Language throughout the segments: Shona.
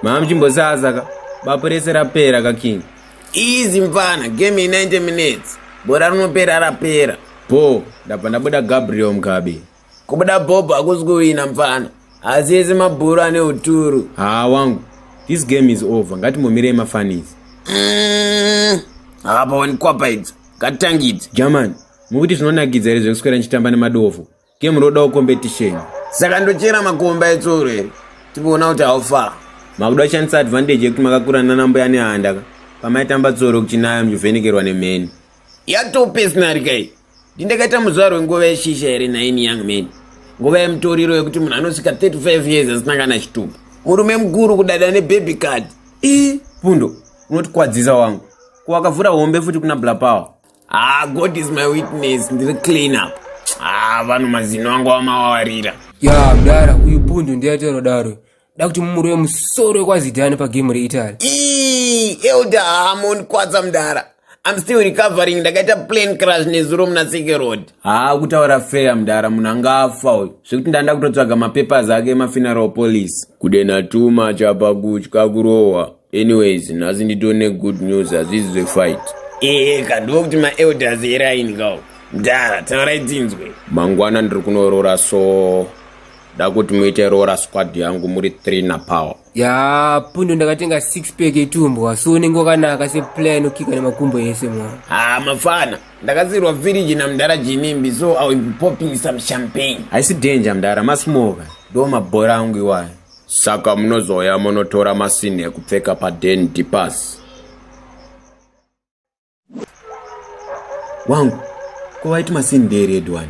mama chimbosaza ka bapo rese rapera ka king easy mfana game 90 minutes bora rinopera rapera bho ndabva ndabuda gabriel mugabe Kubuda Bob hakusi kuwina mfana. Asi ese mabhuru ane uturu. Haa wangu. This game is over. Ngatimbomirei mafanizi. Mm, hapawani kwapa idzi. Katangidzi. German, mukuti zvinonakidza here zvekuswera ndichitamba nemadofo. Game rodawo competition. Saka ndochera makomba etsuro here. Tipoona kuti how far. Makuda kushandisa advantage yekuti makakura nana mbuya nehanda ka. Pamaitamba tsoro kuchinayo muchivhenekerwa nemheni. Yatopesnarika iyi. ndindakaita muzuva rwenguva yeshisha here nhaimi young man nguva yemutoriro yekuti munhu anosvika 35 years asina kana chitupa murume mukuru kudada nebaby card i pundo unotikwadzisa wangu kuwakavhura hombe futi kuna blapower ah god is my witness ndiri clean up ah vanhu mazino angu amawawarira ya mdara uyu pundo ndiyaitarodaro da kuti mumurove musoro wekwazidhani pagemu reitaly elder hamon kwadza mdara I'm still recovering ndakaita plane crash nezuro muna Seke Road. Haa ah, kutaura fair mdara munhu anga afa uyu zvekuti ndanda kutotsvaga mapapers ake emafuneral police. Kudena too much apa kutya kurohwa. Anyways nhasi nditone good news hazvizi zvefight. Ehe ka ndivo kuti maelders eraini kawo. Mdara taurai tinzwe. Mangwana ndiri kunorora so. da kuti muite roora squad yangu muri three na power ya pundo ndakatenga six pack etumbwa so unenge wakanaka seplayer inokika nemakumbo ese mwa ha mafana ndakazirwa village namdara jinimbi so i will be popping some champagne haisi danger mdara masmoka ndo mabhora angu iwayo saka munozoya munotora masini ekupfeka paden dipasi wangu ko waiti masini ndeered one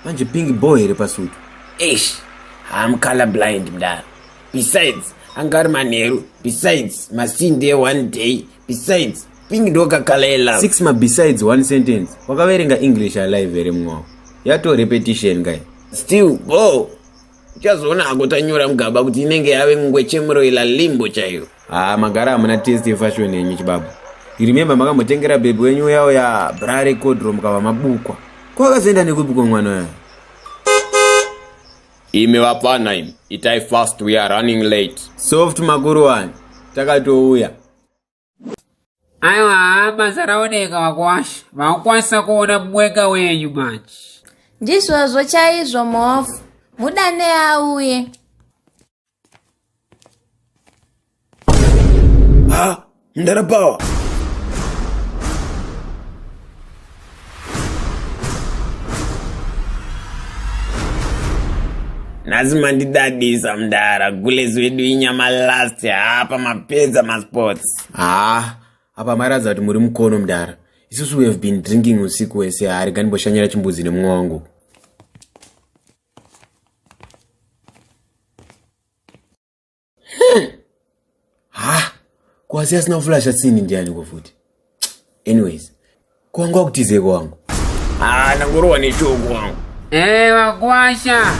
manje pink bo here pasutu eish haam color blind mdaro besides anga ari manheru besides masini ndee one day besides pink ndokakala ela six mabesides one sentence wakaverenga english alive here mwawo yato repetition kai still bo uchazoona hako tanyora mugaba kuti inenge yave ngwechemuroila limbo chaiyo haa ah, magara hamuna test yefashion yenyu chibaba remembe makambotengera bhebhi wenyu uyawo ya bra recodro mukava mabukwa kwakazoenda nekubukwa mwana uya imi vapfana imi itai fast we are running late soft makuru wani takatouya aiwa basa raoneka vakwasha vakwanisa kuona mwega wenyu manje ndizvozvo chaizvo mhofu mudane auye ha ndarapawa nhasi mandidadisa mdara gules wedu inyama last hapa mapedza masports haa apa mairadza kuti muri mukono mdara isusu we have been drinking usiku wese hari ganimboshanyira chimbuzi nemumwe wangu ha kwasi asina kuflasha tsini ndiani ko futi anyways kwanga kutize kwangu ah nangorowa neshoko wangu eh wakwasha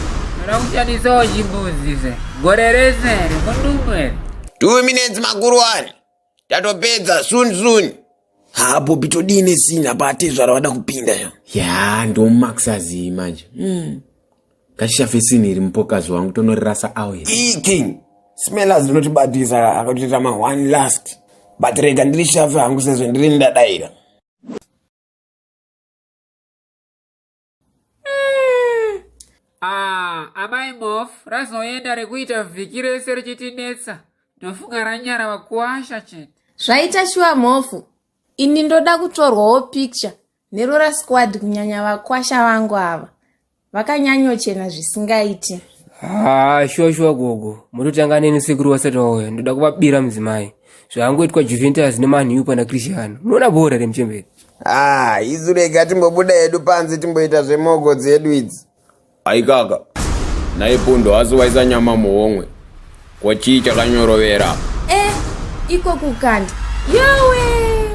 rakuchadisawo chimbuzi se gore rese ri kundumbu ere two minutes makuru wani tatopedza soon soon ha bobi todii nesina paatezvara vada kupinda ya ya ndomax azii manje mm. ngatishafe sini iri mupokazi wangu tonorirasa awe king smellers rinotibatisa akatoita ma one last but rega ndiri shafe hangu sezvo ndiri ndadaira mm. ah, amai mof razoenda rekuita vhiki rese richitinetsa ndofunga ranyara vakuwasha chete zvaita shuwa mhofu ini ndoda kutorwawo picture nerora squad kunyanya vakwasha vangu ava vakanyanyochena zvisingaiti haa shuwa shuwa gogo mototanga neni sekuru wasati wauya ndoda kuvabira mudzimai zvaangoitwa juventus nemanhiu pana christian munoona bhora remuchemberi Ah, isu rega timbobuda hedu panze timboita zvemogo dzedu idzi. Aikaka. Naye pundo asi waisa nyama muhomwe. Kwa chii chakanyorovera? Eh, iko kukanda. Yowe!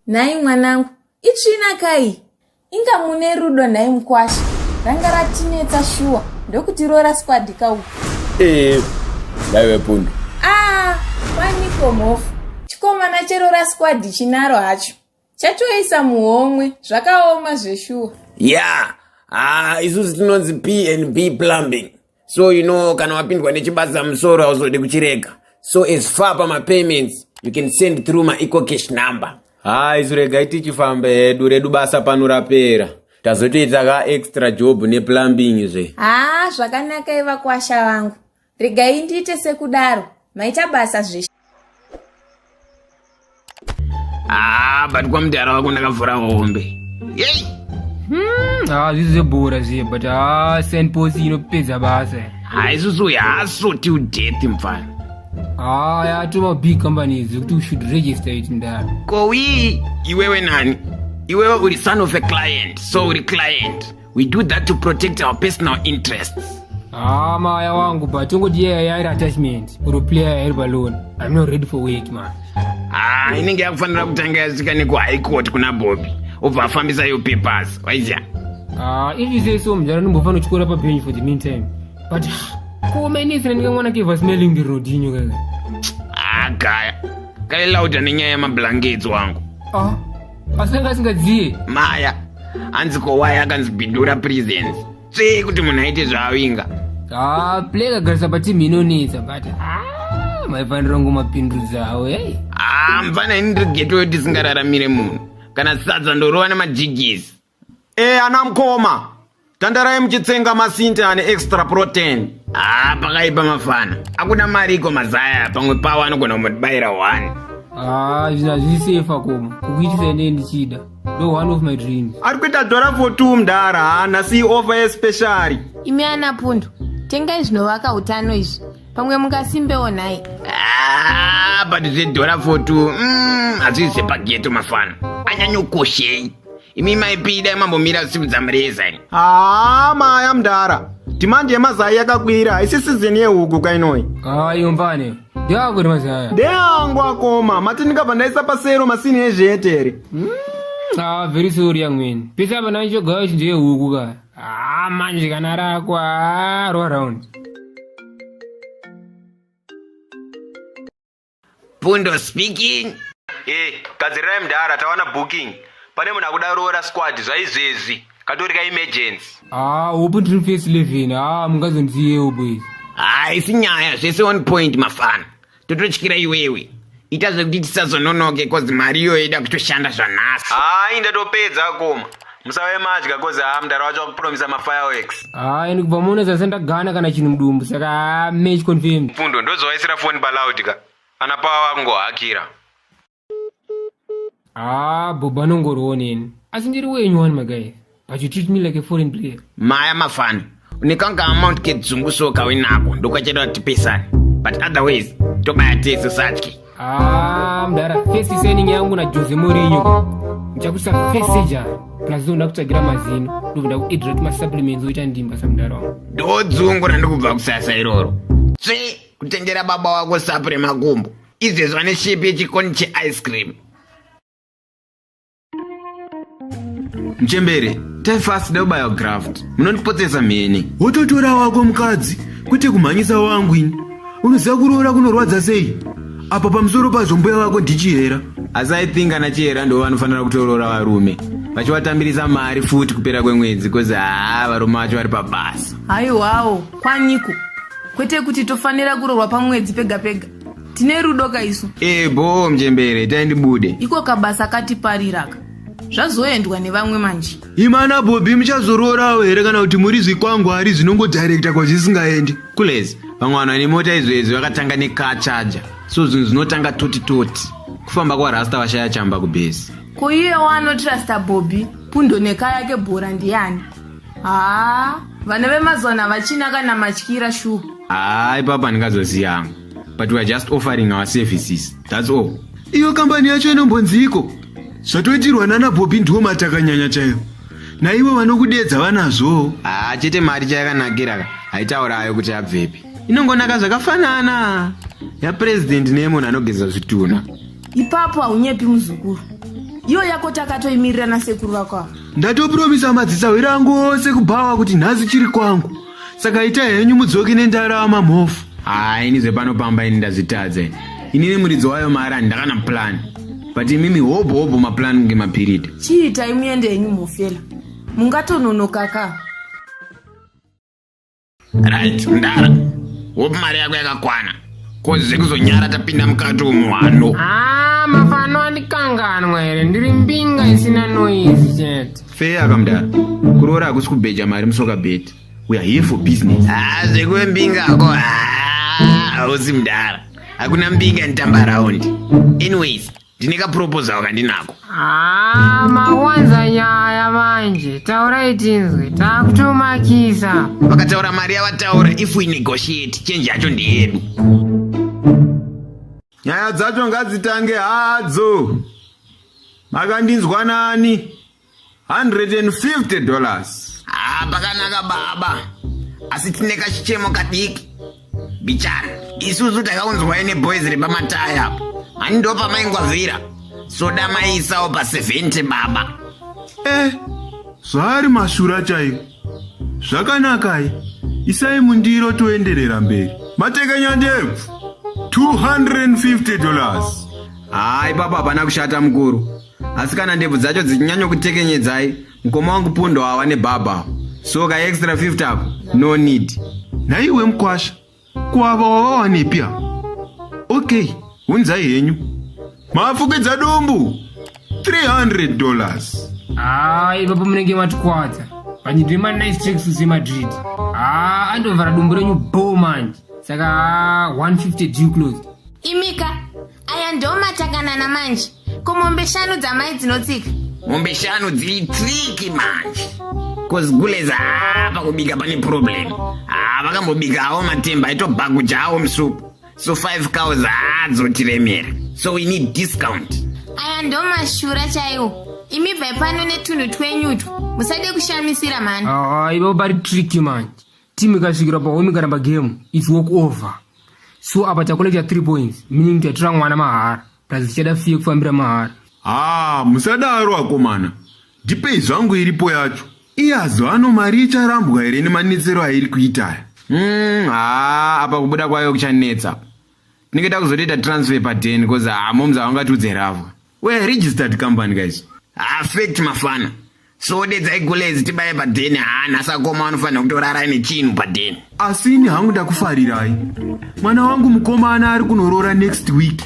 Nhai mwanangu, itsvina kai? Inga mune rudo nhai mkwasha. Ranga ratinetsa shuwa ndokuti rora squad ka uku. Eh, ndaive pundo. Ah, waniko mhofu. Chikomana cherora squad chinaro hacho. chatoisa muhomwe zvakaoma zveshuwa yeah ah isusu tinonzi p and b plumbing so you know kana wapindwa nechibasa musoro hauzodi kuchirega so as far pamapayments you can send through maeco cash number ha isu regai tichifamba hedu redu basa pano rapera tazotoita ka extra job neplumbing zve ha zvakanakai vakwasha vangu regai ndiite sekudaro maita basa zveshe ah, but kwamudhara wako ndakavhura hombe yei hmm, ah, zvizi zvebhora zviye but ah, sand pos inopedza basa haisusu ah, yaso till death mfana ah, yatova big companies zekuti u should register it mdara kowii iwewe nani iwewe uri son of a client so uri client we do that to protect our personal interests Ah, maya wangu but ungoti yeye yairi attachment or player yairi balloon i'm not ready for work man ah inenge yakufanira kutanga yasvika neku high court kuna bobby obva afambisa yo papers waizya ah if you say so mdara ndimbofanira kuchikora pabench for the meantime but ah, kuomainisi nandika mwana keva smelling the road inyo kaka ah gaya kailauda nenyaya yemablankets wangu ah asi anga asingadziye maya hanzi kowaya akanzi bidura presence tsvee kuti munhu aite zvaavinga ah play kagarisa pateam inonetsa but ah maifanira kunge mapindudza awo hey haa mfana ini ndiri getoyo tisingararamire munhu kana sadza ndorova nemajigisi e ana mkoma tandarai muchitsenga masinte ane extra protein haa ah, pakaipa mafana akuda mari iko mazaya pamwe pawo anogona kumutibayira one haa ah, izvi hazvisefa koma kukuitisa ine ndichida no one of my dreams ari kuita dhora for two mdara haana si offer yespeciali imi ana pundu tengai zvinovaka utano izvi pamwe mungasimbewo nhai ah, but zvedhora for two mm, hazvizvepageto mafana anyanyokoshei imi maipi dai mambomira zvitsiku dzamureza ini haa maya mdara dhimandi yemazai yakakwira haisi sizini yehuku kainoi haa iyo mbane ndeako kuti mazaya ndeangu akoma mati ndikabva ndaisa pasero masini ezveetere haa very sorry amweni pese apa ndaichogayo chinjo yehuku ka haa manje kana rako haa roaround Pundo speaking. Eh, gadzirirai mdara tawana booking. Pane munhu akuda roora squad zvaizvezvi. Katori ka emergency. Ah, hope ndiri face 11. Ah, mungazonziyewo boys. Ah, isi nyaya zvese one point mafana. Tototyira iwewe. Ita zvekuti tisazononoke cause mari iyoyo ida kutoshanda zvanhasi. Ah, indatopedza koma. musave madya kozi haa mdara wacho wakupromisa mafireworks haa and kubva muno zase ndagana kana chinhu mudumbu saka haa match confirmed pfundo ndozovaisira foni paloud ka ana pawa vakungohakira haa bobo anongorooneni asi ndiri wenyu wani magai but you treat me like a foreign player maya mafana Unikanga amount kedzungu so kawinako ndokachedwa tipesane but otherwise tobaya tese satye Ah, mdara face signing yangu na Jose Mourinho. Nchakusa face ja. Plus ndo ndakutsvagira mazino. Ndovida ku hydrate ma supplements oita ndimba sa mdara wangu. ndodzungu randikubva kusasa iroro tsve kutengera baba wako sapu remakumbo izvezva neshepi yechikoni cheice cream mchembere tefast deubiograft munondipotsesa mheni wototora wako mukadzi kwete kumhanyisa wangu ini unoziva kuroora kunorwadza sei apa pamusoro pazvo mbuya vako ndichihera asi i think ana chihera ndivo vanofanira kutoroora varume vachivatambirisa mari futi kupera kwemwedzi bcause haa varume vacho vari pabasa haiwawo kwaniko kwete kuti tofanira kurorwa pamwedzi pega pega tine rudo ka isu ee bhoo mjembere itai ndibude iko kabasa katipariraka zvazoendwa nevamwe manje imana bhobhi muchazoroorawo here kana kuti muri zvikwangwari zvinongodirekta kwazvisingaendi kulezi vamwe vanhu vane mota izvezvi vakatanga necar charger so zvinhu zvinotanga toti toti kufamba kwarasta vashaya chamba kubhesi ko iye waanotrasta bhobhi pundo neka yake bhora ndiyani haa vana vemazuva navachina kana matyira shuwa haa ipapa ndingazoziyangu but weare just offering our services thats all iyo kambani yacho inombonziiko zvatoitirwa nana bobi ndiwo matakanyanya chaivo naivo vanokudedza vanazvoo haa ah, chete mari chayakanakira ka haitaura ayo kuti abvepi inongonaka zvakafanana yapurezidendi neyemunhu anogeza zvitunha ipapo haunyepi muzukuru iyo yako takatoimirirana sekuru vako ava ndatopromisa madzisahwira angu ose kubhawa kuti nhasi chiri kwangu saka ita henyu mudzoki nendarama mhofu haa ini zvepano pamba ini ndazvitadza ini inini muridzi wayo mari handakana plan but imimi hobho hobho maplan kunge mapiridi chiitai muende henyu mhofela mungatononokaka right mdara hope mari yako yakakwana kozi kuzonyara tapinda mukati umu hano haa mafano andikanganwa here ndiri mbinga isina noizi chete Feya kamdara. Kuroora hakusi kubheja mari musoka bed. We are here for business. Ah, zvekuve mbinga ako. Ah, hausi mdara. Hakuna mbinga nitamba round. Anyways, ndine ka proposal kandinako. Ah, mawanza nyaya manje. Taurai tinzwe. Takutomakisa. Vakataura mari yavataura if we negotiate change yacho ndeyedu. Nyaya dzacho ngadzitange hadzo. Makandinzwa nani? 150 dollars. Ah, pakanaka baba. Asi tine kachichemo kadiki. Bichana, isusu takaunzwai neboys repamataya apo. Mani ndopa maingwavira. Soda maisawo pa 70 baba. Eh, zvaari mashura chaiwo. Zvakanakai. Isai mundiro toenderera mberi. Matekenya ndebvu. 250 dollars. haa ipapo hapana kushata mukuru asi kana ndebvu dzacho dzichinyanyokutekenyedzai mukoma wangu pundo awa nebhabha so ka extra 50 ako no need nhaiwe mukwasha kuava wavawanepi apa okay hunzai henyu mafukidza dumbu 300 dollars haa ipapo munenge matikwadza vanyidwe manice tricks semadrid haa andovhara dumbu renyu bo manje saka haa 150 due closed imika aya ndomatakanana manje ko mombe shanu dzamai dzinotsika mombe shanu dziri triki manje bcoz gulez haa pakubika pane problem haa vakambobika awo matemba aitobhakuja awo musupu so 5 cows haa dzotiremera so we need discount aya ndomashura chaiwo imi bvai pano netunhu twenyutwa musade kushamisira mhani haa ivo vari triki manje team ikasvikira pa home ikaramba game it's walk over so apa tacollecta 3 points meaning tatora mwana mahara plus tichada fee yekufambira mahara haa musadaro akomana ndipei zvangu iripo yacho iye azo ano mari icharambwa here nemanetsero airi kuitaya Mm, haa apa kubuda kwayo kuchanetsa tinenge takuzotoita transfer pa 10 bcause haa moms havangatiudze ravo We are registered company guys. Ah, fact mafana. So dedzai gulezi tibaye padheni haa nhasi akoma vanofanira kutorara ine chinhu padheni. Asi ini hangu ndakufarirai. Mwana wangu mukomana ari kunoroora next week.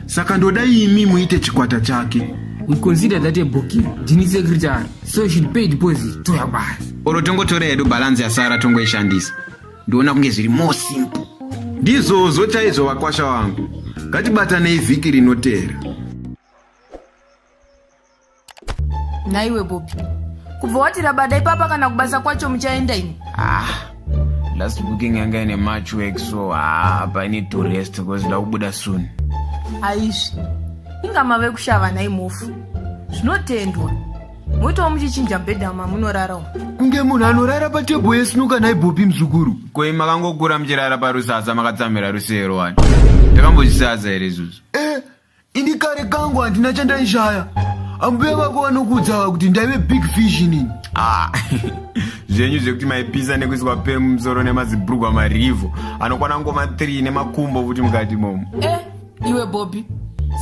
Saka ndoda imi muite chikwata chake. We consider that a booking. Ndini secretary. So you should pay deposit to your boss. Oro tongotora hedu balance yasara tongoishandisa. Ndiona kunge zviri more simple. Ndizvozvo chaizvo vakwasha wangu. Ngatibatanei vhiki rinoteera. Naiwe Bobi. Kubva wati rabada ipapa kana kubasa kwacho muchaenda ini. Ah. Last booking yanga ine match work so ah, apa I need to rest because ndakubuda soon. Aizvi. Inga mave kushava nhai mofu. Zvinotendwa. moitawo muchichinja bhedha mamunorara umu kunge munhu anorara patebho yesinuka nhai bopi muzukuru koi makangokura muchirara parusaza makatsamira rusero wani ndakambozvisaza here izvozvo eh ini kare kangu handina chandaishaya ambuya vako vanokuudzava kuti ndaive big fish inini ah, zvenyu zvekuti maipisa nekuiswa pemumusoro nemazibhurugwa marivho anokwana ngoma 3 nemakumbo futi mukati momo eh. iwe bobi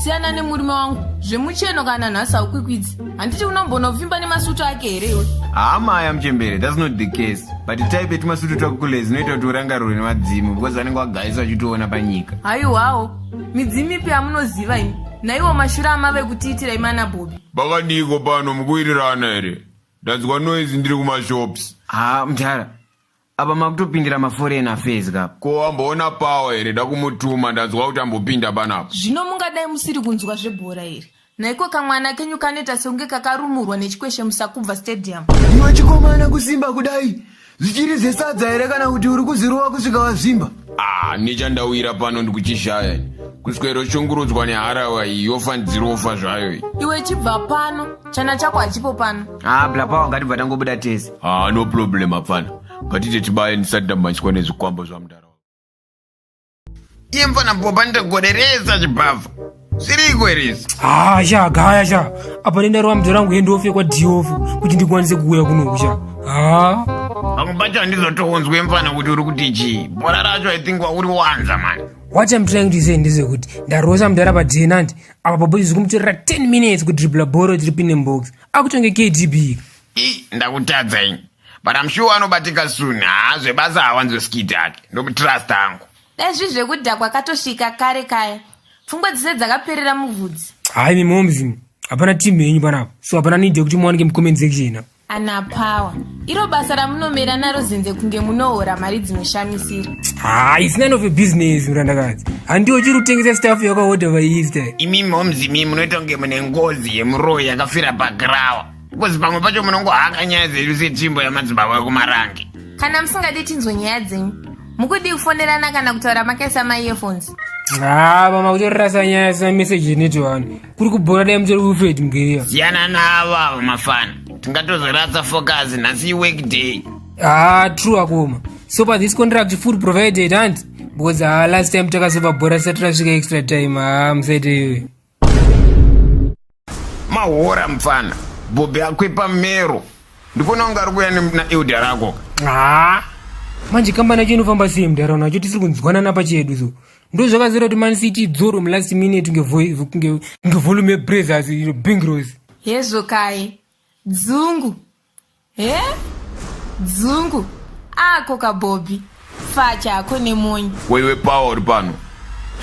siyana nemurume wangu zvemucheno kana nhasi haukwikwidzi handiti unombona kuvimba nemasutu ake here iwe hama aya muchembere thats not the case but type yetumasutu twako kule zinoita kuti urangarirwe nemadzimu because vanenge wagaisa vachitoona panyika haiwawo midzimu ipi yamunoziva imi naiwo mashura amave kutiitira imana bobi bakaniko pano mukuirirana here ndanzwa noise ndiri kumashops ha mdhara apa makutopindira maforeign affairs ka ko wamboona power here dakumutuma ndanzwa kuti ambopinda panapa zvino mungadai musiri kunzwa zvebhora here naiko kamwana kenyu kanoita sekunge kakarumurwa nechikweshe musakubva stadium iwe chikomana kusimba kudai zvichiri zvesadza here kana kuti uri kuzirova kusvika wazvimba ah nechandawira pano ndikuchishaya ini kuswero shungurudzwa neharawa iyi yofa ndirofa zvayo iyi iwe chibva pano chana chako hachipo pano haa ah, blapawa ngatibva tangobuda tese Ah, no problem apfana. Ngatite tibaye ndisati ndamhanyiswa nezvikwambo zvamdara. Iye mfana popa ndogoderesa chibhavha. Zviriko here izvi? haa sha gaya sha apa nendarova mudzi rangu hendofe kwadiofu kuti ndikwanise kuuya kunoku sha haa Pamwe pacho handizotounzwe mfana kuti uri kuti chii. Bhora racho I think wauri wanza mani. what im trying to say ndezvekuti ndarosa mudhara padenant apa papo izvi zikumutorera 10 minutes kudribla bhoro tiri pine mbox akutonge kdb Ii, ndakutadza ini. But I'm sure anobatika soon. Haa zvebasa hawanzwe skit ake. Ndomutrust hangu. Dai zvi zvekudhakwa katosvika kare kaya. Pfungwa dzese dzakaperera muvhudzi. Hayi mi moms imi. Hapana team yenyu panapa. So hapana need yekuti muwanike mu comment section apa. Ana power. Iro basa ramunomera naro zenze kunge munohora mari dzinoshamisira. Haa it's none of a business murandakadzi. Handiwo chiri kutengesa staff yakahodha vairi style. Imi moms imi munoita kunge mune ngozi yemuroyi yakafira pagrawa. because pamwe pacho munongohaka nyaya dzedu setimbo yamadzibaba ekumarange kana musingadi tinzwe nyaya dzenyu mukudii kufonerana kana kutaura makaisa maearphones haa mama kutorasa nyaya sina message initi vanhu kuri kubhora dai mutori ufred mugeriya siyana navo avo mafana tingatozoratsa focus nhasi iwork day haa true akoma so pa this contract food provided hanti because haa last time takazobva bhora sati rasvika extra time haa musaite iyoyo mahora mfana bhobhi akwepa mero ndikuona kunge ari kuya naelda rako haa manje kambani yacho inofamba sei mudharauna yacho tisiri kunzwanana pachedu so ndo zvakazira kuti man city idzoro mulast minute ngevolume yebrathers ino bingros yezokai dzungu he dzungu ako kabhobhi facha ako nemonyi ko iwe pawa uri pano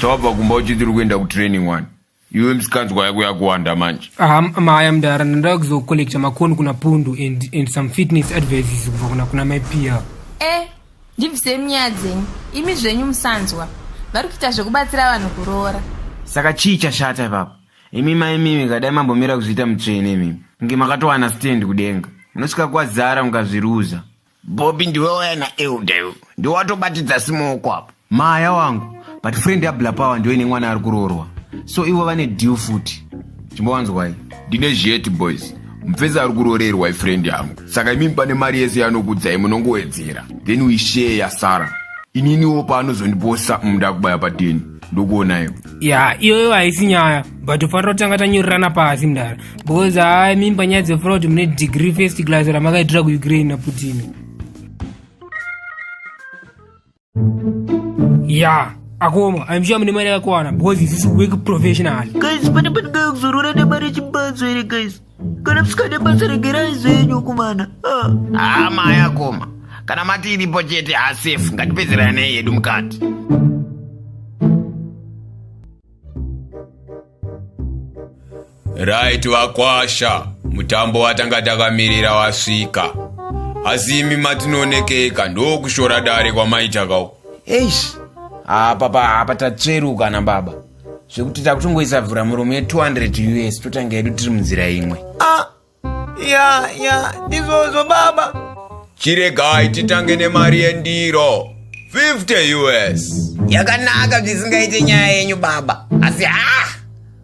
sawabva kumba uchiti uri kuenda kutraining wani iwe misikanzwa yako yakuwanda manje aha maya mdara ndandaa kuzocollecta makoni kuna pundu and, and some fitness advices kubva kuna kuna mai pia e ndibvisei munyaya dzenyu imi zvenyu musanzwa vari kuita zvekubatsira vanhu kuroora saka chii chashata ipapo Imi maimimi ka dai mambomira kuzviita mutsvene imimi kunge makatowana stand kudenga munosvika kwazara mukazviruza. Bobby ndiwe waya naElder iwe ndiwe watobatidza simoko apo. Maya wangu but friend yaBla Power ndiwe ine mwana ari kuroorwa so ivo vane deal futi chimbowanzwai. Ndine zhet boys mupfesi ari kuroorerwa ifriend yangu saka imimi pane mari yese yanokudzai munongowedzera then we share yasara ininiwo paanozondiposa munda kubaya pateni. ndokuonai ya iyoyo haisi nyaya but tofanira kutanga tanyorerana pasi mdara because haa mimba nyaya dzefura kuti mune degree first class ramakaitira kuukraine naputin ya akoma aimshuwa mune mari yakakwana because isisi work professional guys pane pandingaya kuzorora nemari yechimbadzo here guys kana musikade basa regerai zvenyu kumana ah. haa maya koma kana mati iripo chete hasafe ngatipedzeranei yedu mukati right vakwasha mutambo watanga takamirira wasvika asi imi matinoonekeka ndokushora dare kwamaitaka uku eish apa pa apa tatsveruka nababa zvekuti takutongoisa vhura muromo ye 200 us totanga yedu tiri munzira imwe ah, ya ya ndizvozvo baba chiregai titange nemari yendiro 50 us yakanaka zvisingaite nyaya yenyu baba asi ha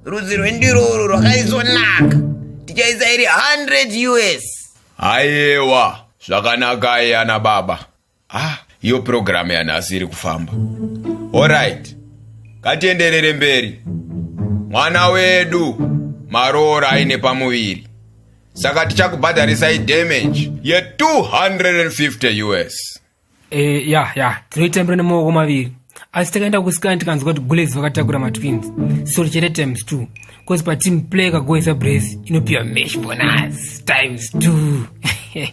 rudzi rwendiro urwu rwakaisvonaka tichaisa iri 100 us ayewa zvakanakai ana baba ah iyo purogiramu yanhasi iri kufamba orit ngatienderere mberi mwana wedu maroora aine pamuviri saka tichakubhadharisai damage ye 250 us e, ya ya tinoitembera nemaoko maviri asi takaenda kusikana tikanzwa kuti bullets vakatakura matwins so chete times two bcause pateam play kagoisa brace inopiwa mesh bonus times two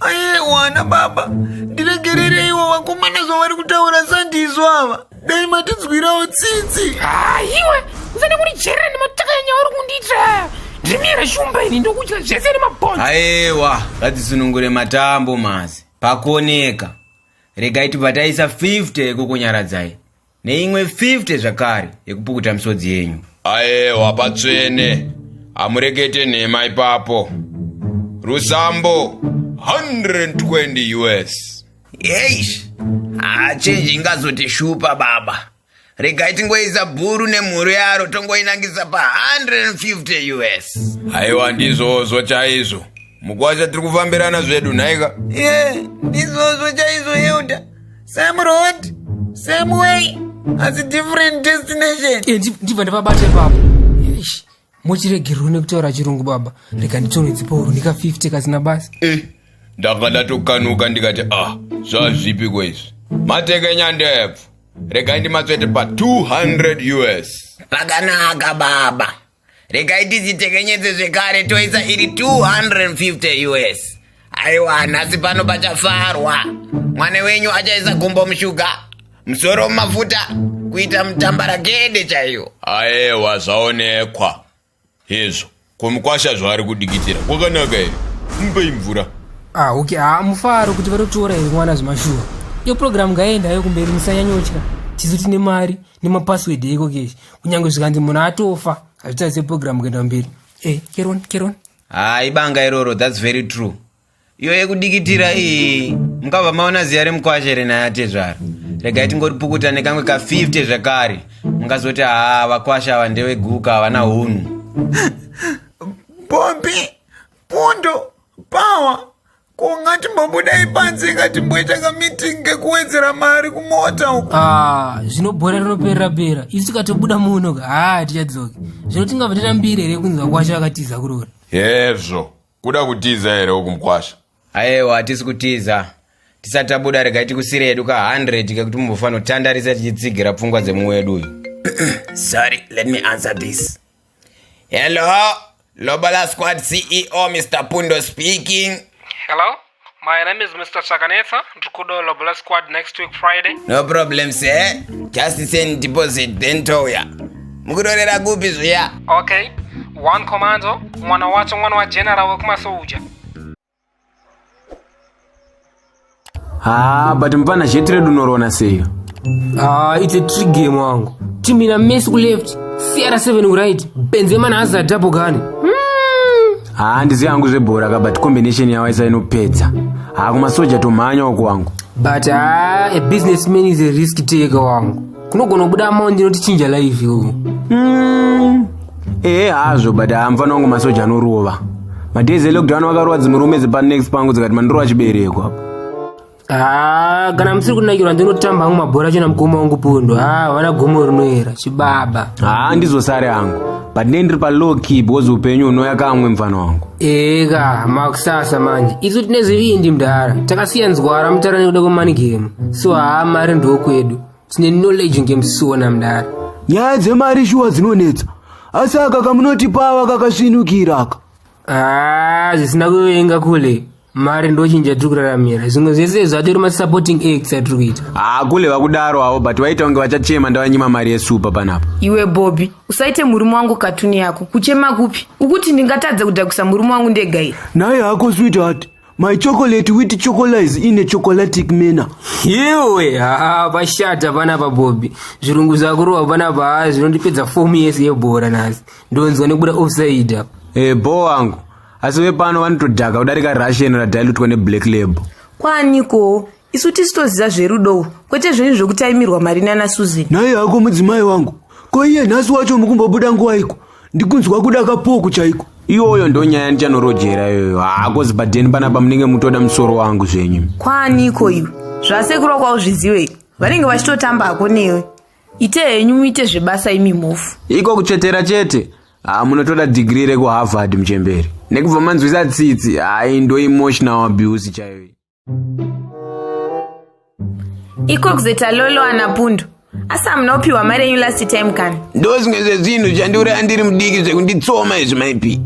aiwana baba ndiregerereiwo vakomana zvavari kutaura sandizvo ava dai matinzwirawo tsitsi haiwa usada kurijerera nemataka enyauri kundiitira ndimiyera shumba ini ndokudya zvese nemabhonzi aiwa ngatisunungure matambo masi pakoneka Regai tibva taisa 50 yekukunyaradzai neimwe 50 zvakare yekupukuta misodzi yenyu. Aewa patsvene, hamurekete nhema ipapo. Rusambo 120 US. Eish, hachenji ingazotishupa baba. regai tingoisa bhuru nemhuru yaro tongoinangisa pa 150 us aiwa ndizvozvo chaizvo mukwasha tiri kufambirana zvedu nhaika ye ndizvozvo chaizvo elda same road same way asi different destination ndibva ndavabate papo mochiregerwa nekutaura chirungu baba rega nditsonwe dzipouru ndika 50 kasina basa eh ndanga ndatokanuka ndikati ah zvazvipi kwaizvi mateke nyandebvu regai ndimatsvete pa 200 us pakanaka baba regai tidzitekenyedze zvekare toisa iri 250 us Aiwa, nhasi pano pachafarwa. Mwana wenyu achaisa gumbo mushuga, musoro mumafuta, kuita mutambaragede chaiyo. Aewa, zvaonekwa hezvo. Kumukwasha zvaari kudikitira kwakanaka here? Mupei mvura. Ah, okay. Ah, mufaro kuti vatotora here mwana zvemashuwa. Iyo program ngaenda yo kumberi musanyanyotya. Chizoti nemari nemapassword eko keshi. Kunyange zvikanzi munhu atofa, hazvitarise program kuenda mberi. Eh, keron, keron. haa ibanga iroro thats very true iyo yekudikitira iyi mukabva maona ziya remukwashe renaya atezvara regai tingoripukuta nekamwe ka 50 zvekare mungazoti haa vakwasha ava ndeveguka havana hunhu bobi pundo pawa Ko ngatimbobuda ipanze ngatimboita kameeting kekuwedzera mari kumota uko. Ah, zvino bhora rinoperera pera. Isu tikatobuda muno ka. Ah, tichadzoka. Zvino tingabva tatambira here kunzi vakwasha vakatiza kurora. Hezvo. Kuda kutiza here uku mkwasha? Ayewa hatisi kutiza. Tisati tabuda rega tikusire yedu ka 100 kekuti mumbofanira kutandarisa tichitsigira pfungwa dzemuwedu uyu. Sorry, let me answer this. Hello, Lobola Squad CEO Mr. Pundo speaking. Hello, my name is Mr. Chakanetsa. Ndikudo Lobola Squad next week Friday. No problem, sir. Just send deposit then toya. Mukutorera kupi zviya? Okay, one commando, mwana wacho mwana wa general wekumasoja. Ah, but mfana sheti redu unorona seyo Ah, it's a trick game wangu. Team ina Messi ku left, CR7 ku right, Benzema na Hazard double gani. haa ndizi yangu zvebhora ka but combination yawo isa inopedza haa kumasoja tomhanya uko wangu But ah, a businessman is a risk taker wangu. kunogona kubuda amao ndinoti chinja live iwo mm. ehe hazvo but hamufana wangu masoja anorova madays elockdown vakarova dzimwe rume dzepanext pangu dzikati mandirova chibereko apo ah, kana musiri kunakirwa ndinotamba hangu mabhora chena mukoma wangu pundo havana ah, gomo rinoera chibaba haa ah, ndizosare hangu but ne ndiri palow key because upenyu unouya kamwe mfana wangu eka makusasa manje isu tine zvivindi mdhara takasiya nzwara mutarani kuda kwemani gemu so haa mari ndokwedu tine knowledge ngemusona mdara nyaya dzemari shuwa dzinonetsa asi aka kamunotipawa kakasvinukira aka Ah, zvisina kuvenga kule mari ndochinja tiri kuraramira zvimwe zvese izvo atori masupporting acts atiri kuita haa kule vakudaro avo but vaita kunge vachachema ndavanyima mari yesupa panapa iwe bobi usaite murume wangu katuni yako kuchema kupi ukuti ndingatadze kudhakisa murume wangu ndega here naye hako sweetheart My chocolate with chocolize in a chocolatic manner. Yewe, haa, vashata vana vabobi. Zvirungu zvakurova vana vaa zvinondipedza fomu yese yebhora nasi. Ndonzwa nekuda offside apa. Eh, bho wangu. Asi vepano vanotodhaka kudarika Russian radilutwa neblack label. Kwaniko? isu tisi toziva zverudowo kwete zvenyu zvekutaimirwa mari nana susan naye hako mudzimai wangu ko iye nhasi wacho mukumbobuda nguwaiko ndikunzwa kuda kapoku chaiko iyoyo ndonyaya ndichanorojera iyoyo hako zibhadheni panapa munenge mutoda musoro wangu zvenyu kwaaniko iwe zvasekurwa kwauzviziwei vanenge vachitotamba hako newe ite henyu muite zvebasa imi mhofu iko kutsvetera chete ha munotoda dhigiri rekuharvard muchemberi nekubva manzwisa tsitsi haindo emotional abuse chaiyo ikokuzeta lolo ana pundu asi hamuna kupiwa mari yenyu last time kani ndozvimwe zvezvinhu zvandiuraya ndiri mudiki zvekunditsoma izvi maipi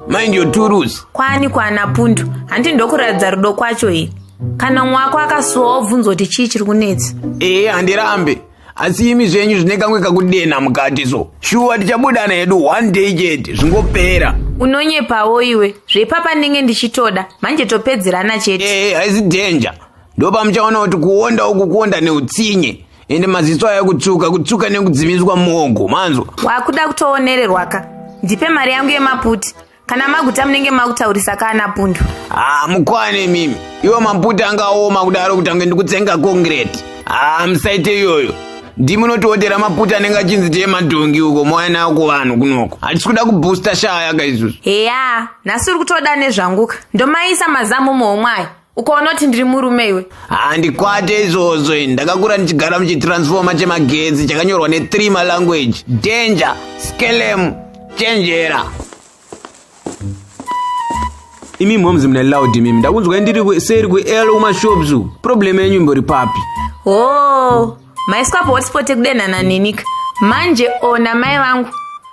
mind your turusi kwani kwana pundu handi ndokuratidza rudo kwacho here kana mumwe wako akasuwa wobvunzwa kuti chii chiri kunetsa ee handirambe asi imi zvenyu zvine kamwe kakudenha mukati so shuwa tichabudana hedu one day chete zvingopera unonyepawo iwe zvepapa ndenge ndichitoda manje topedzerana chete ee haisi danger ndopa muchaona kuti kuonda uku kuonda neutsinye ende maziso aya kutsuka kutsuka nekudzimiswa muongo manzwa wakuda kutoonererwaka ndipe mari yangu yemaputi kana maguta munenge makutaurisa kana pundu haa ah, mukwane mimi iwo maputa angaoma kudaro kuti ange ndikutsenga kongireti haa ah, musaite iyoyo ndimunotiotera maputa anenge achinzi tee madhongi uko mouya nayo kuvanhu kunoko hatisi kuda kubhusta shaya ka isusu heya nhasi uri kutoda nezvanguka ndomaisa mazamu muhomwe ayo ukaona kuti ndiri murume iwe handikwate izvozvo ini ndakakura ndichigara muchitransfoma chemagetsi chakanyorwa ne3 malanguage danger skelem chenjera imi moms mune loud imimi ndakunzwai ndiri ku- seri kuel kumashops uku problem yenyu imbori papi hoo maiswa pahotspot ekudenhana nenika manje ona mai vangu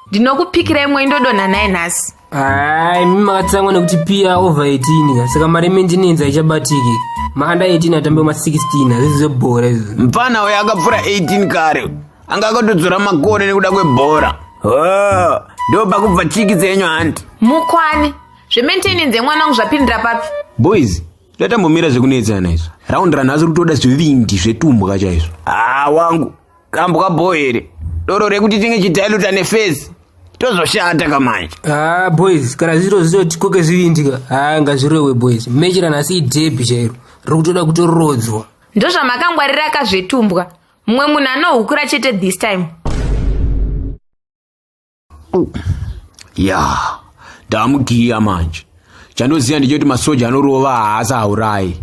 ndinokupikirai mwoi ndodonha naye nhasi Hai, mimi makatsamwa nekuti pia over 18 ka saka mari yemendenenzi haichabatiki maanda 18 atambe ma 16 hazvizi zvebhora izvo mfana uyo akapfura 18 kare anga akatodzora makore nekuda kwebhora Oh, ndo pakubva chiki dzenyu hanti Mukwane. Zvementenenzi yemwana wangu zvapindira papi? boys tatambomira zvekunetsana izvo raundi ranhasi rutoda zvivindi zvetumbwa chaizvo haa wangu kambwa bho here doro rekuti tinge chidailuta nefesi tozoshata kamanje ah boys kana zviro zvinoti koke zvivindika ah ngazvirowe boys mechera nhasi idhebhi chairo riri kutoda kutorodzwa ndozvamakangwarira kazvetumbwa mumwe munhu anohukura chete this time ya ndamugiya manje chandoziva ndechekuti masoja anorova haasi haurayi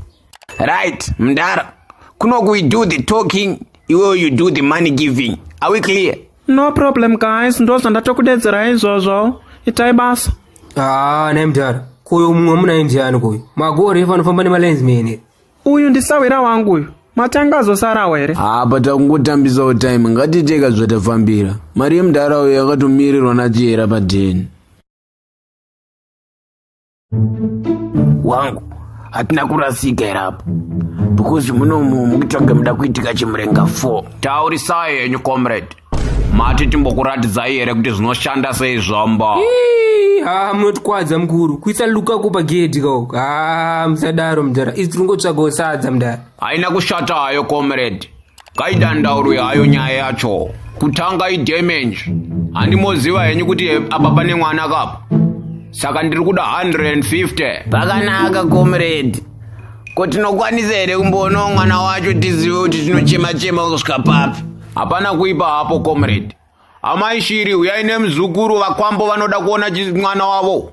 right mdara kunoku we do the talking iwewe you do the money giving are we clear no problem guys ndozvandatokudedzera izvozvo itai basa haa ah, naimdara kuyo mumwe munaimdiyani kuyo magori efanofamba nemalens mene uyu ndisahwira wangu uyu matanga azosarawo here apa takungotambisawo time ngatiteka zvatafambira mari yemudhara uyo yakatomirirwa nachihera padheni wangu hatina kurasika here apa because munomu mukitsvage muda kuitika chimurenga 4 taurisai henyu comrade mati timbokuratidzai here kuti zvinoshanda sei zvombo haa munotikwadza mukuru kuisa luka ko pagedhi kao haa musadaro mudhara isi tiringotsvagawo sadza mudhara haina kushata hayo comrade kaidandaurwe hayo nyaya yacho kutanga idamage handimoziva henyu kuti apa pane mwana kapa saka ndiri kuda 150 pakanaka comrade ko tinokwanisa here kumboonao mwana wacho tizive kuti tinochema chema kusvika papi Hapana kuipa hapo comrade. Amai Shiri uyai nemuzukuru vakwambo vanoda kuona mwana wavo.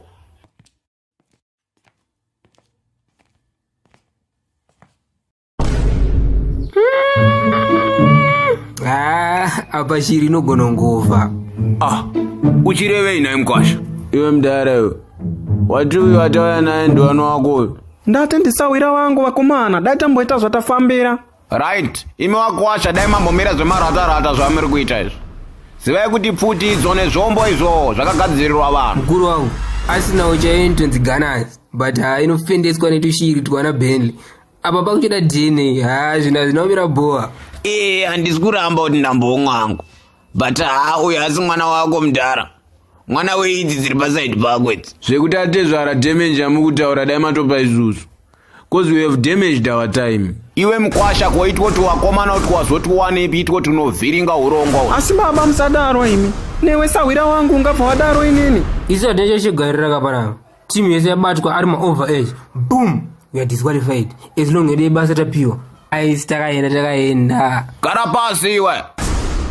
Ah, apa Shiri inogona ngova. Ah, uchirevei naye mkwasha? Iwe mdara iwe. Wati uyu atauya naye ndiwana wako uyu. Ndati ndisawira wangu vakomana, dai tamboita zvatafambira. right imi wakwasha dai mambomira zvemaratarata zvamiri kuita izvi zivai kuti pfuti idzo nezvombo izvo zvakagadzirirwa vanhu mukuru wangu asinawo chaiyo initonzi ganas but ha inofendeswa netushiri twana benly apa pakuchida dna ha zvina zvinaomira bhowa ee handisi kuramba kuti ndambomwangu but haa uyo asi mwana wako mudhara mwana weidzi dziri pasaidi pako idzi zvekuti atezvara damage amukutaura dai matopa isusu bcause we have damaged our time iwe mkwasha koitwa kuti wakomana kuti wazoti wanepi itwa kuti unovhiringa urongwa asi baba musadaro imi newe sahwira wangu ungabva wadaro inini iso ndecho chigarira kaparava team yese yabatwa ari maover age boom we are disqualified as long ede basa tapiwa aisi takaenda takaenda gara pasi iwe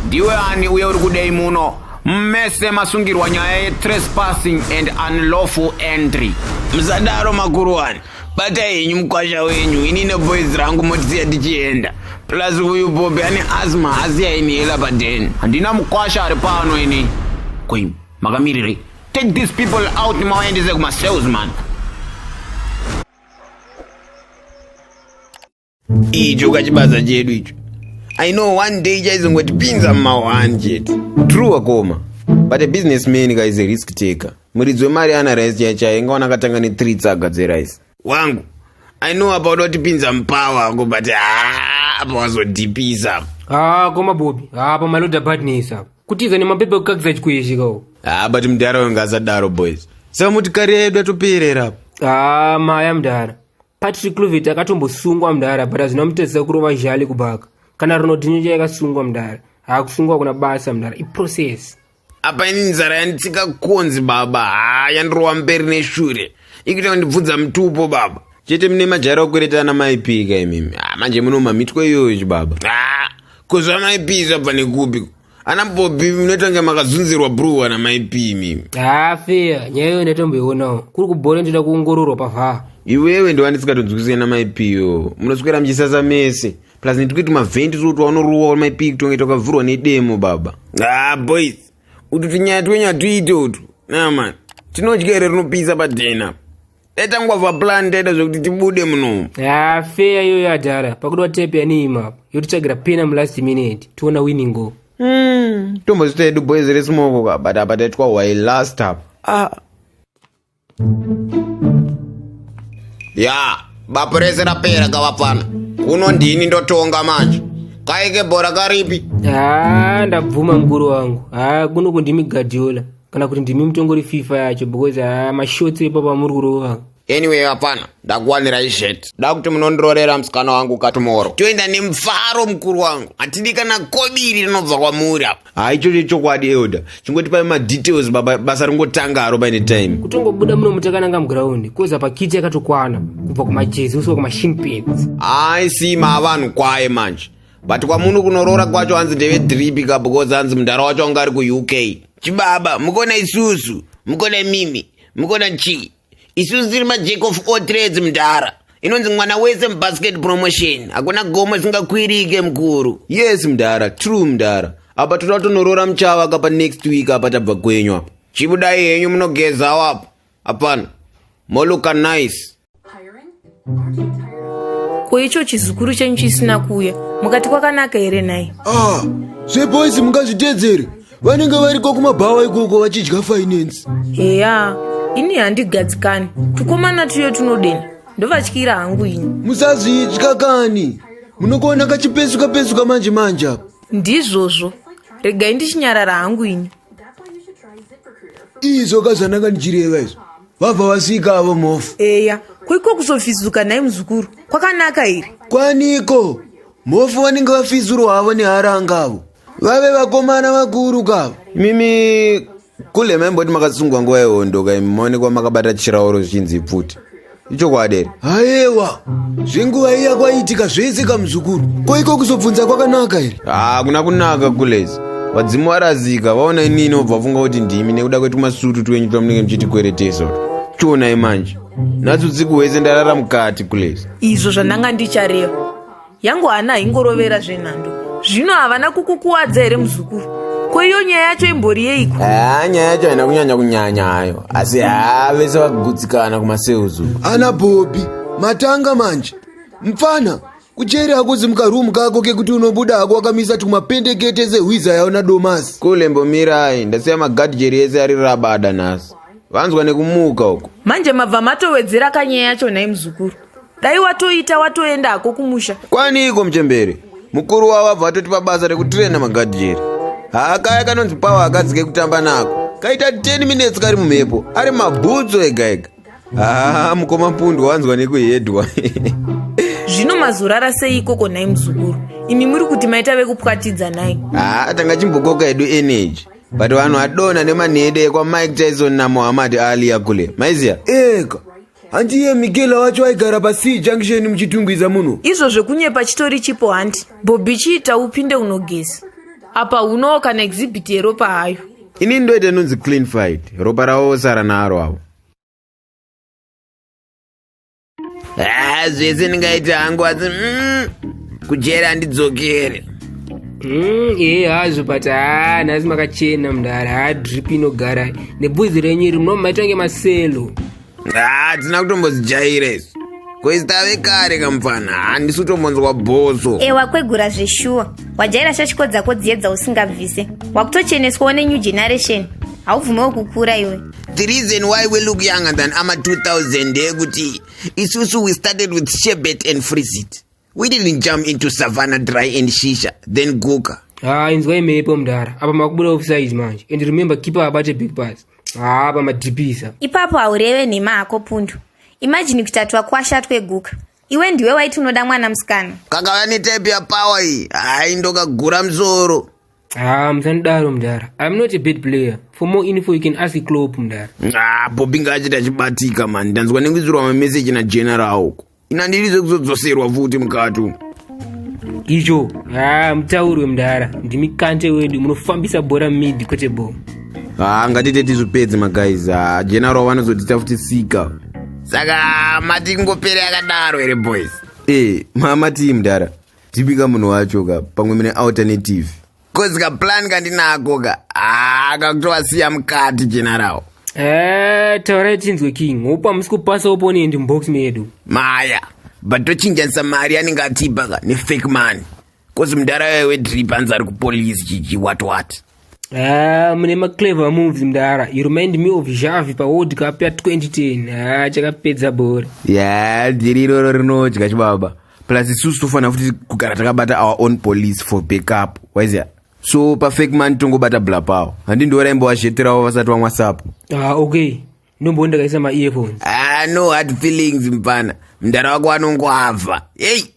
ndiwe ani uye uri kudei muno mese masungirwa nyaya yetrespassing and unlawful entry musadaro makuruwani batai henyu mukwasha wenyu ini neboys rangu motisiya tichienda plus uyu bobi ane asma hasiya inihela paden handina mukwasha ari pano ini koi makamirirei Take these people out nimawaendese kuma cells man. Icho kachibaza chedu icho. I know one day chaizongotipinza mumawani chete. True wakoma. But a businessman guy is a risk taker. Muridzi wemari ana rice chaiye chaiye ingawana akatanga ne 3 tsaga dze rice. wangu i know apa unotipinza mupawa wako but haa apa wazodhipisa apa haa koma bobi haa pamaload apartness apa kutiza nemapepa ekukakisa chikuishikawo haa but mudhara uyo ngasadaro boys saka motikari yedu yatoperera apa haa maya mudhara patrick clovet akatombosungwa mudhara but hazvina mutadzisa kurova zhali kubaka kana ronodhinyo chayakasungwa mudhara haa kusungwa kuna basa mudhara iprocess apa ini nzara yanditsika konzi baba haa yandirova mberi neshure ikuita kundibvunza mutupo baba chete mune majara okwereta ana maipika imimi ah, manje munomamitwa iyoyo chibaba ah, ko zvamaipi zvabva nekupi ana bobi munotange makazunzirwa bruwa namaipi imimi haa ah, feya nyaya iyo ndatomboionawo kuri kubhore ndoda kuongororwa pavhaa iwewe ndovandisingatonzwisisana maipiyo munoswera muchisasa mese plus netikuti mavhendi tiri kuti wanoruwa maipiki kutongaita ukavhurwa nedemo baba ah boys utu tinyaya twenyu hatuite utu naman tinodya here rinopisa padhena taitangwa vaplan taita zvekuti tibude muno ah, feya iyoyo adhara pakuti watepe yanii mapo yotitsvagira pena mulast minute tiona winningo hmm, tombozita yedu boys resimoko ka but apa taitwa why last up ah. ya bapu rese rapera gavapfana kuno ndini ndotonga manje kaike bhora karipi haa ndabvuma mukuru wangu haa kuno kundimi gadiola kana kuti ndimi mutongori fifa yacho because haa mashotsi epa pamuri kurova anyway vapfana ndakuwanira izvete da kuti munondirorera musikana wangu katumoro toenda nemufaro mukuru wangu hatidi kana kobiri rinobva kwamuri apa haa ichocho chokwadi elder chingoti pae madetails baba basa ringotanga haro paine time kutongobuda muno mutakananga muground koza pakiti yakatokwana kubva kumajezi usiwa kumashing pins hayi sima avanhu kwaye manje but kwamuno kunoroora kwacho hanzi ndeve dripi ka because hanzi mundara wacho anga ari kuuk chibaba mukona isusu mukona mimi mukona chii isusu tiri majack of all trades mdhara inonzi mwana wese mubasket promotion hakuna gomo singakwirike mukuru yes mdhara true mdhara apa toda kutonoroora muchava kapa next week apa tabva kwenyu apa chibudai henyu munogezawo apa apana moluka nice ko icho chizukuru chenyu chisina kuuya mukati kwakanaka here nhai ah zveboys mungazviteedzere vanenge variko kumabhawa ikoko vachidya finance heya ini handigadzikani tukomana tuyo tunodenha ndovatyira hangu ini musazvitya kani munokuona kachipesuka pesuka manje manje apa ndizvozvo regai ndichinyarara hangu ini izvo ka zvandanga ndichireva izvo vabva vasvika avo mofu eya koiko kuzofizuka nhai muzukuru kwakanaka here kwaniko mofu vanenge vafizurwa havo neharanga avo vave vakomana vakuru kavo mimi kule maimboti makasungwa nguva yehondo kaimi maonekwa makabata chirauro zvichinzi pfuti ichokwadi here Ayewa, zvenguva iya kwaiitika zvese kamuzukuru. Ko iko kuzobvunza kwakanaka here? Ah, kuna kunaka kulezi. Vadzimu varazika, vaona inini inobva funga kuti ndimi nekuda kwetu masutu twenyu twamunenge muchiti kwereteso. Chionai manje. Natsu usiku hwese ndarara mukati kulezi. izvo zvandanga ndichareva yangu hana ingorovera zvenhando zvino havana kukukuwadza here muzukuru ko iyo nyaya yacho imbori yeiko haa nyaya yacho haina kunyanya kunyanya hayo asi haa vese vakugutsikana kumaseuzu ana bhobi matanga manje mpfana kucheri hakuzi mukarumu kako kekuti unobuda hako wakamisa tumapendekete sehwiza yaona domasi kule mbomirai ndasiya magadhijeri ese ari rabada nhasi vanzwa nekumuka uko manje mabva matowedzera kanyaya yacho nhai muzukuru dai watoita watoenda hako kumusha kwaniiko muchembere mukuru wavo abva atotipa basa rekutirena magadhijeri haa kaya kanonzi pawa akadzi kekutamba nako kaita 10 minutes kari mumhepo ari mabhutso ega ega haa mukoma pundwa wanzwa nekuhedwa zvino mazorara sei ikoko nhai muzukuru imi muri kuti maita vekupwatidza nhai haa tanga chimbokoka hedu energy but vanhu adona nemanhede ekwamike tyson namohamad aaliya kule maiziya ega hanti iye migela wacho waigara pasii junction muchitungwiza muno izvo zvekunyepa chitori chipo hanti bobhi chiita upinde unogeza apa unowo kana exhibit yeropa hayo ini ndoita inonzi clean fight ropa ravo vosara naro avo ah, zvese ndingaita hangu asi mm, kujera handidzokere mm, ee hazvo but haa ah, nhasi makachena mdara haa ah, drip inogara nebvudzi renyu iri munomaita kunge maselo hatina kutombozijaira izvi koistave kare kamupfana handisi kutombonzwa bhoso e wakwegura zveshuwa wajaira shashiko dzako dziyedza usingabvise wakutocheneswawo nenew generation haubvumewo kukura iwe the reason why we look younger than ama 2000 ndeyekuti isusu we started with shebet and freezit We didn't jump into savannah dry and shisha then guka. Ah, inzwa imepo mdara. Apa makubuda offside manje. And remember keeper abate big pass. Ah, apa madipisa. Ipapo haureve nhema hako pundu. Imagine kutatwa kwasha tweguka. Iwe ndiwe waiti unoda mwana musikana. Kakava ni type ya power iyi. Hayi ndokagura msoro. Ah, musanidaro mdara. I'm not a bad player. For more info you can ask Klopp mdara. Ah, Bobby ngaachita chibatika man. Ndanzwa nekuisirwa ma message na general uko. Ina ndiri dzekuzodzoserwa futi mukati umu. Icho, haa mutauri wemdara, ndimi kante wedu, munofambisa bhora mid kwete bho. Haa ngatite tizvipedze maguys, haa general vanozotita futi sika. Saka mati ingopere yakadaro here boys? Eh, mama tii mdara. Tipika munhu wacho ka, pamwe mune alternative. Kozi ka plan kandinako ka. Ah, kakutova siya mukati general. Eh, taurai tinzwe king. Hope amusi kupasa opponent mubox medu. Maya, but tochinjanisa mari anenge atipa ka ne fake money. Kozi mudara wewe wedrip anzi ari kupolice chichi what what. Ah, mune ma clever moves mdara. You remind me of Xavi pa World Cup ya 2010. Ah, chakapedza bhora. Yeah, dhiri iroro rinodya chibaba. plus isusu tofanira futi kugara takabata our own police for backup waizia so pafake man tongobata bla pawo handi ndioraimbowazhetirawo vasati vamwa sapo ah, okay ndombowo ndakaisa maearphones ah, no hard feelings mpana mdara wako anongoavha hei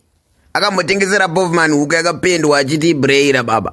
akambotengesera bovman huku yakapendwa achiti ibreyira baba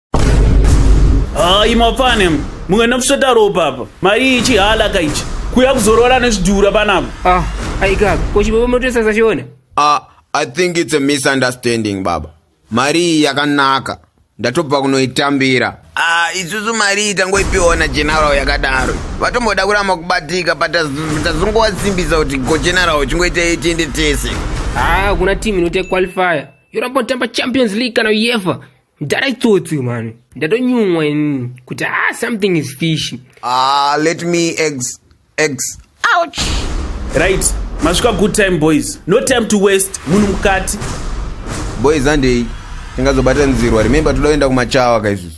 hayi mafane mumwe nafusveta ropa apa mari iyi chihala ka ichi kuya kuzorora nezvidhura panapa ah aikaka ko chibobo motesa sachiona ah i think it's a misunderstanding baba mari iyi yakanaka ndatobva kunoitambira ah isusu mari iyi tangoipiwa na general yakadaro vatomboda kuramba kubatika but tazongowasimbisa kuti go general chingoita itiende tese ah kuna team inoita qualifier yoramba kutamba champions league kana uefa mdara itsotsi mani ndatonyumwa ini kuti ah something is fish ah let me eggs eggs ouch right masvika good time boys no time to waste munhu mukati boys andei tingazobata nzirwa remember toda kuenda kumachawa kaizvizvi